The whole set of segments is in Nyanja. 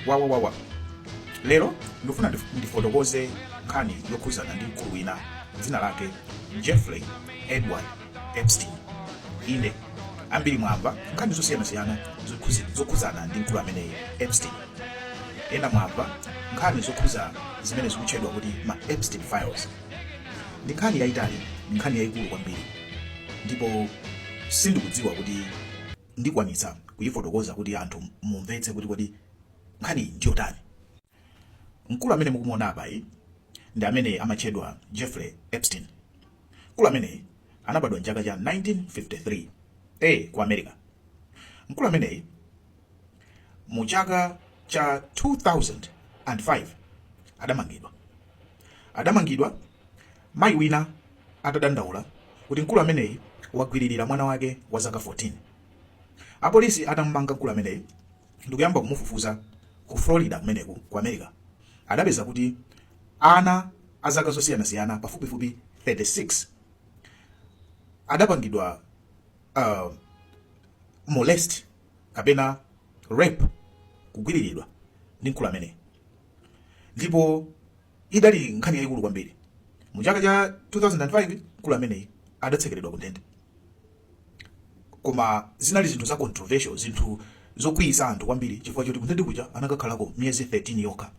wawawawa lero ndikufuna ndif- ndifotokoze nkhani yokhuzana ndi mkulu wina dzina lake jeffrey edward epstein inde ambiri mwamva nkhani zosiyanasiyana zokhuzi- zokhuzana ndi mkulu ameneyi epstein ena mwamva nkhani zokhuza zimene zikutchedwa kuti ma epstein files ndi nkhani yayitali ndi nkhani yayikulu kwambiri ndipo sindikudziwa kuti ndikwanitsa kuyifotokoza kuti anthu mumvetse kuti kodi nkhaniyi ndiyotani. Mkulu amene mukumuona apayi ndi amene amatchedwa Jeffrey Epstein. Mkulu ameneyi anabadwa m'chaka cha 1953 a ku America. Mkulu ameneyi mu chaka cha 2005 adamangidwa. Adamangidwa Mayi wina atadandaula kuti mkulu ameneyi wagwiririra mwana wake wa zaka 14 apolisi atamumanga mkulu ameneyi ndikuyamba kumufufuza ku Florida kumeneku ku America adapeza kuti ana a zaka zosiyanasiyana pafupifupi 36 adapangidwa uh, molest kapena rape kugwiriridwa ndi mkulu ameneyi ndipo idali nkhani yayikulu kwambiri. Mu chaka cha 2005 mkulu ameneyi adatsekeredwa ku ndende. Koma zinali zinthu za controversial, zinthu zokwiyisa anthu kwambiri chifukwa choti kundende kuja anakakhalako miyezi 13 yokha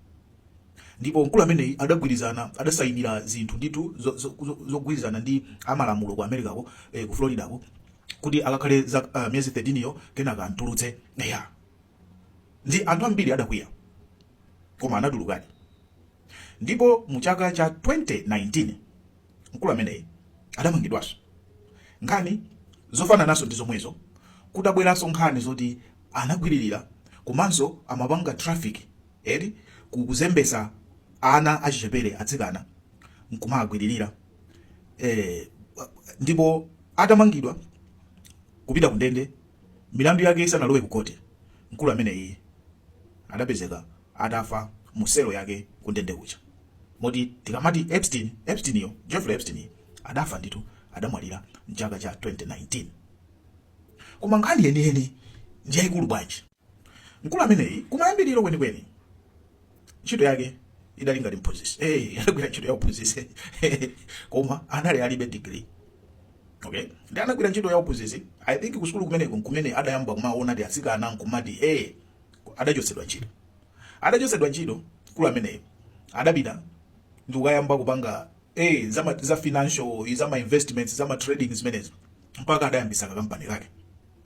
ndipo mkulu ameneyi adagwirizana adasayinira zinthu ndithu zogwirizana ndi amalamulo ku America ko eh, ku Florida ko kuti akakhale za uh, miyezi 13 yo kenaka amutulutse yeah. ndi anthu ambiri adakwiya koma anatulukadi ndipo mu chaka cha 2019 mkulu ameneyi adamangidwanso nkhani zofanananso ndi zomwezo kudabweranso nkhani zoti anagwiririra komanso amapanga traffic eti ku- kuzembesa ana achichepere atsikana nkumagwiririra eh, ndipo atamangidwa kupita kundende Milandu yake isanalowe ku khoti, mkulu ameneyi adapezeka atafa mu selo yake ku ndende kuja. Moti tikamati Epstein, Epstein-yo, Jeffrey Epstein, adafa ndithu, adamwalira m'chaka cha 2019. Koma nkhani yeniyeni ndi yaikulu bwanji? Mkulu ameneyi kumayambiriro kwenikweni. ntchito yake idali ngati mphunzitsi eh anagwira ntchito ya uphunzitsi koma anali alibe degree okay ndi anagwira ntchito ya uphunzitsi i think ku sukulu kumeneko nkumene adayamba kumaona ndi atsikana nkumati eh adachotsedwa ntchito adachotsedwa ntchito mkulu ameneyo adapita ndi kukayamba kupanga eh za ma- za financial za ma investments za ma trading zimenezo mpaka adayambisa kampani yake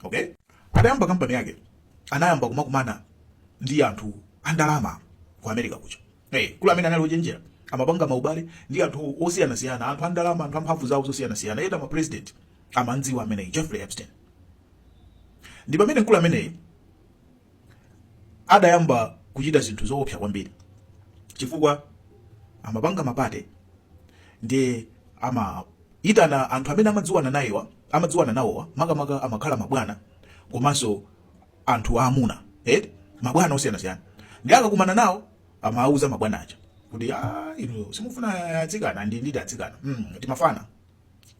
okay adayamba kampani yake anayamba kumakumana ndi anthu andalama ku America kuja hey, eh, mkulu amene anali ochenjera amapanga maubale ndi anthu osiyanasiyana anthu andalama anthu amphamvu zawo zosiyanasiyana ena ma president amamudziwa ameneyi Jeffrey Epstein ndi pamene mkulu ameneyi adayamba kuchita zinthu zoopsa kwambiri chifukwa amapanga mapate ndi amaitana anthu amene amadziwana nayewa amadziwana nawowa makamaka amakhala mabwana komanso anthu aamuna eh, mabwana osiyanasiyana ndi akakumana nawo amawuza mabwana aja kuti ah, inu simufuna atsikana ndi ndili atsikana mm, timafana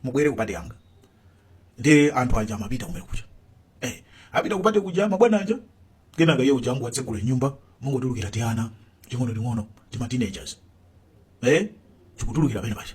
mubwere kupate yanga ndi anthu aja amapita kumene kuja eh, apita kupate kuja mabwana aja kenaka iye uja angotsegula nyumba mungotulukira tiana ting'ono ting'ono tima teenagers eh, tikutulukira pene paja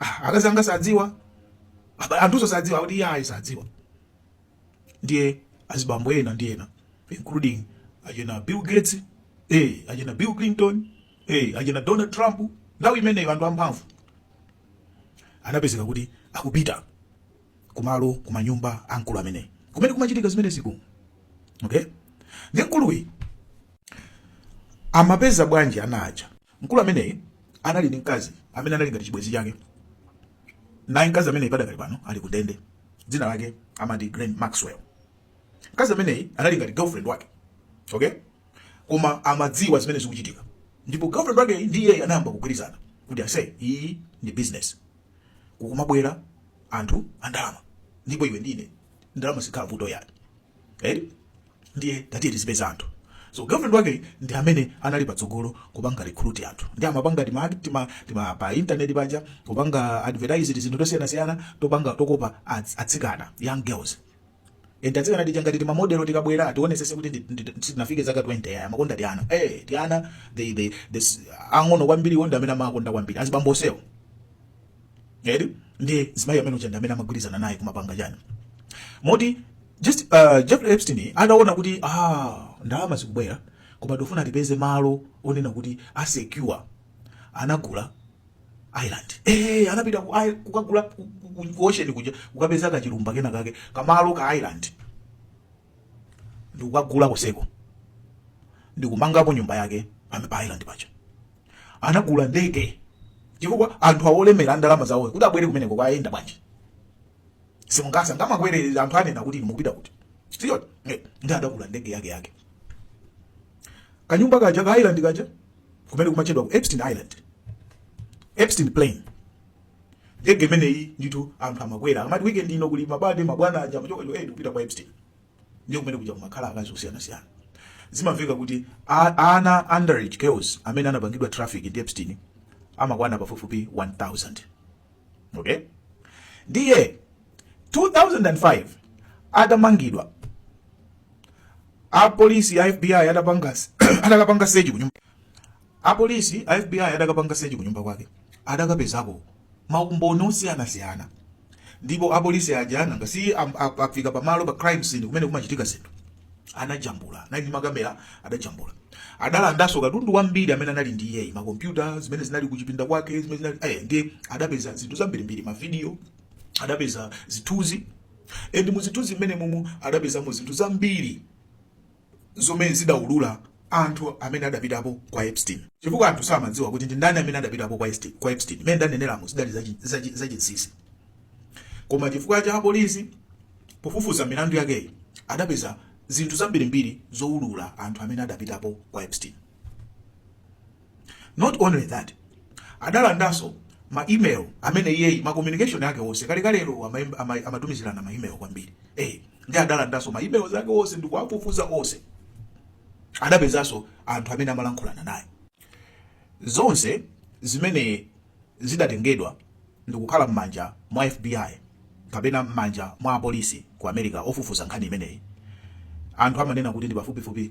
Ah, akazanga sadziwa, anthuso sadziwa kuti iye ayi sadziwa. Ndiye azibambo ena ndi ena including achina Bill Gates eh, achina Bill Clinton eh, achina Donald Trump nthawi imeneyo anthu amphamvu anapezeka kuti akupita kumalo kumanyumba a mkulu amene kumene kumachitika zimenezi ku okay ndi mkuluyi amapeza bwanji ana aja Mkulu ameneyi anali ndi mkazi amene anali ngati chibwenzi chake, naye mkazi ameneyi padakali pano ali ku ndende. Dzina lake amati Ghislaine Maxwell. Mkazi ameneyi anali ngati girlfriend wake, okay, koma amadziwa zimene zikuchitika, ndipo girlfriend wake ndi iyeyi anayamba kugwirizana kuti ase iyi ndi business, kukumabwera anthu andalama ndipo iwe ndine ndalama sikhala vuto yani. Eri? ndiye tatiye tizipeza anthu so girlfriend wake ndi amene anali patsogolo kupanga recruit anthu ndiye amapanga tima tima tima pa internet paja kupanga advertise zinthu tosiyana siyana topanga tokopa ats- atsikana young girls and atsikana tija ngati tima model tikabwera ationesese kuti ndi- ndi- sitinafike zaka 20 iye amakonda tiana eh tiana they they this ang'ono kwambiri awo nda amene amakonda kwambiri azibambo onsewo eri nde mzimayi amene uja ndi amene amagwirizana naye kumapanga chani moti just uh, Jeffrey Epstein ataona kuti ah ndalama zikubwera koma ndofuna tipeze malo onena kuti asecure anagula Island eh anapita ku kukagula ku ocean kuja kukapeza kachilumba kena kake kamalo ka Island ndikukagula konseko ndikumangako nyumba yake pame pa island paja anagula ndege chifukwa anthu awolemera ndalama zawo kuti abwere kumeneko ayenda bwanji simungasa ngamakwere anthu anena kuti inu mukupita kuti chitiyo ndi adagula ndege yake yake kanyumba kaja ka island kaja kumene kumatchedwa ku epstein island epstein plane ndege imeneyi ndithu anthu amakwera akamati weekend ino kuli mabade mabwana aja amachoka cho eh kupita kwa Epstein ndiye kumene kuja kumakhala akazi osiyanasiyana zimamveka kuti a- ana underage girls amene anapangidwa traffic ndi Epstein amakwana pafupifupi 1000 okay ndiye 2005 adamangidwa apolisi a FBI adapanga adakapanga search kunyumba Apolisi a FBI adakapanga sechi kunyumba kwake adakapezako maumboni osiyanasiyana ndipo apolisi aja nanga si afika pamalo pa crime scene kumene kumachitika zinthu anajambula anali ndi makamera adajambula adalandanso katundu wambiri amene anali ndi iyeyi makompyuta zimene zinali kuchipinda kwake zimene zinali eh, ndiye adapeza zinthu zambirimbiri mavidiyo adapeza zithunzi endi muzithunzi mmenemumu adapezamo zinthu zambiri zomwe zidaulula anthu amene adapitapo kwa Epstein chifukwa anthu samadziwa kuti ndi ndani amene adapitapo kwa Epstein. Mmene ndaneneramo zidali zachinsinsi koma chifukwa cha apolisi pofufuza milandu yakeyi adapeza zinthu zambirimbiri zoulula anthu amene adapitapo kwa Epstein. not only that adalandanso ma email amene iyeyi ma communication ake onse kalekalero amatumizirana ma email kwambiri eh ndiye adalandanso ma email ake onse ndi kuwafufuza onse adapezanso anthu amene amalankhulana naye zonse zimenezi zidatengedwa ndikukhala m'manja mwa FBI kapena m'manja mwa apolisi ku America ofufuza nkhani imeneyi anthu amanena kuti ndi pafupifupi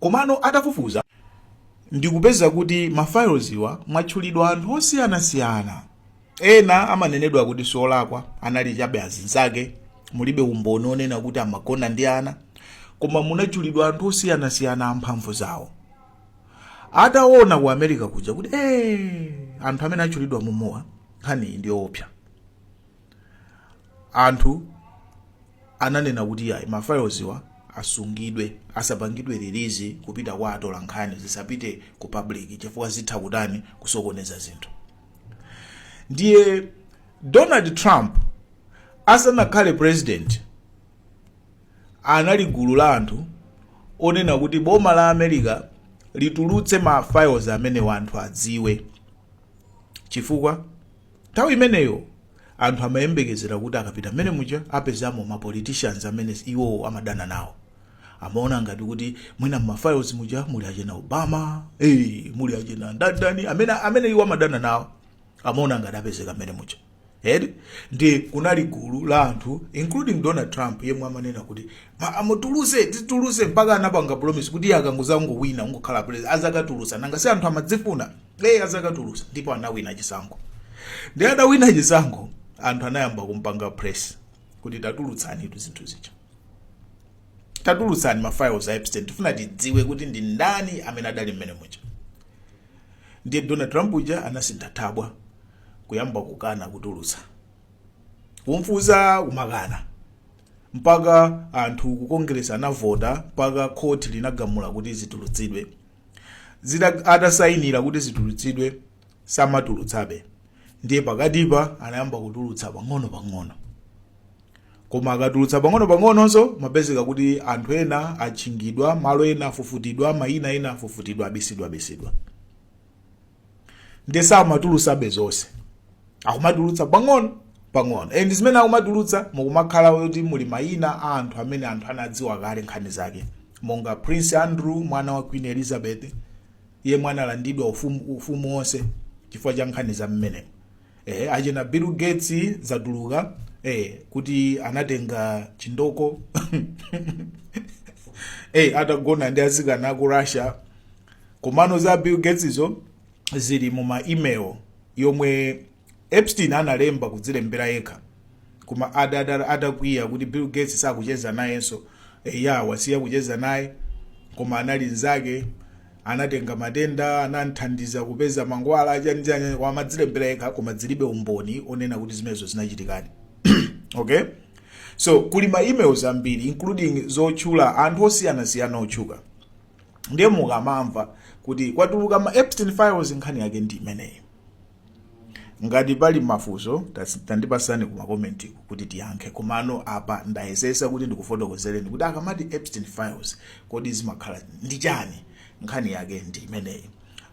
Komano atafufuza ndikupeza kuti ma fileswa mwatchulidwa anthu osiyanasiyana. Ena amanenedwa kuti siolakwa, anali chabe azinzake, mulibe umboni onena kuti amagona ndi ana, koma munatchulidwa anthu osiyanasiyana amphamvu zawo. Ataona ku America kuja kuti eh anthu amene atchulidwa mumuwa nkhaniyi ndi yoopsa. anthu ananena kuti ayi ma fileswa asungidwe asapangidwe release kupita kwa atola nkhani zisapite ku public chifukwa zitha kutani kusokoneza zinthu ndiye donald trump asanakhale president anali gulu la anthu onena kuti boma la america litulutse ma files amenewa anthu adziwe chifukwa Nthawi imeneyo anthu amayembekezera kuti akapita mmenemuja apezamo ma politicians amene iwowo amadana nawo. Amaona ngati kuti mwina mma files muja muli achina Obama, eeh, muli achina ndani ndani amene amene iwo amadana nawo. Amaona ngati apezeka mmenemuja. Eti? Ndiye kunali gulu la anthu including Donald Trump yemwe amanena kuti ma amutuluse, tituluse mpaka anapanga promise kuti iye akangodzangowina kungokhala president azakatulutsa. Nanga si anthu amazifuna? azakatulutsa ndipo anawina chisankho ndi adawina chisankho anthu anayamba kumpanga press kuti tatulutsani zinthu zija tatulutsani mafiles a epstein tifuna tidziwe kuti ndi ndani amene adali mmene muja ndiye donald trump uja anasintha thabwa kuyamba kukana kutulutsa kumfunsa kumakana mpaka anthu ku congress anavota mpaka khoti linagamula kuti zitulutsidwe atasayinira kuti zitulutsidwe samatulutsabe ndiye pakatipa anayamba kutulutsa pang'ono pang'ono koma akatulutsa pang'ono pang'ononso mapezeka kuti anthu ena atchingidwa malo ena afufutidwa mayina ena afufutidwa abisidwa abisidwa ndiye samatulutsabe zonse akumatulutsa pang'ono pang'ono and zimene akumatulutsa mukumakhala kuti muli mayina a anthu amene anthu anadziwa kale nkhani zake monga prince andrew mwana wa queen elizabeth iye mwana alandidwa ufumu wonse chifukwa cha nkhani za mmenemo eh, achina bill gates zatuluka eh, kuti anatenga chindoko eh, atagona ndi azikana ku russia komano za bill gates zo zili mu ma email yomwe epstein analemba kudzilembera yekha koma adakwiya kuti bill gates sakucheza nayenso eh, ya wasiya kucheza naye koma anali nzake anatenga matenda anamthandiza kupeza mankhwala chanichani koma amadzilembera yekha koma zilibe umboni onena kuti zimenezo zinachitikadi okay so kuli ma emails ambiri including zotchula anthu osiyanasiyana otchuka ndiye mukamamva kuti kwatuluka ma epstein files nkhani yake ndi imeneyi ngati pali mafunso tandipasani ku makomenti kuti tiyankhe komano apa ndayesetsa kuti ndikufotokozereni kuti akamati epstein files kodi zimakhala ndi chani nkhani yake ndi imeneyi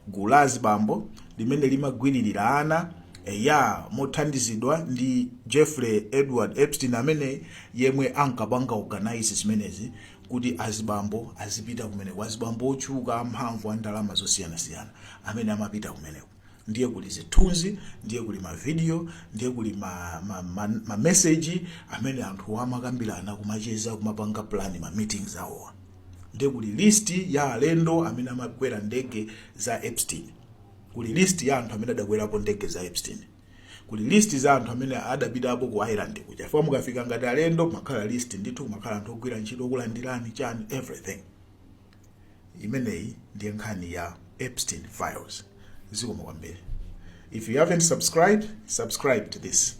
gulu la azibambo limene limagwiririra ana eya mothandizidwa ndi jeffrey edward epstein amene yemwe ankapanga organize zimenezi kuti azibambo azipita kumeneko azibambo otchuka amphamvu a ndalama zosiyanasiyana amene amapita kumeneko ndiye kuli zithunzi ndiye kuli mavidiyo ndiye kuli mameseji ma, ma, ma amene anthu amakambirana kumacheza kumapanga plan ma meetings awowo ndiye kuli list ya alendo amene amakwera ndege za epstein kuli list ya anthu amene adakwerapo ndege za epstein kuli list za anthu amene adapitapo ku island kuja chifukwa mukafika ngati alendo makhala list ndithu kumakhala anthu ogwira ntchito okulandirani chani everything imeneyi ndiye nkhani ya epstein files zikomo kwambiri if you haven't subscribed subscribe to this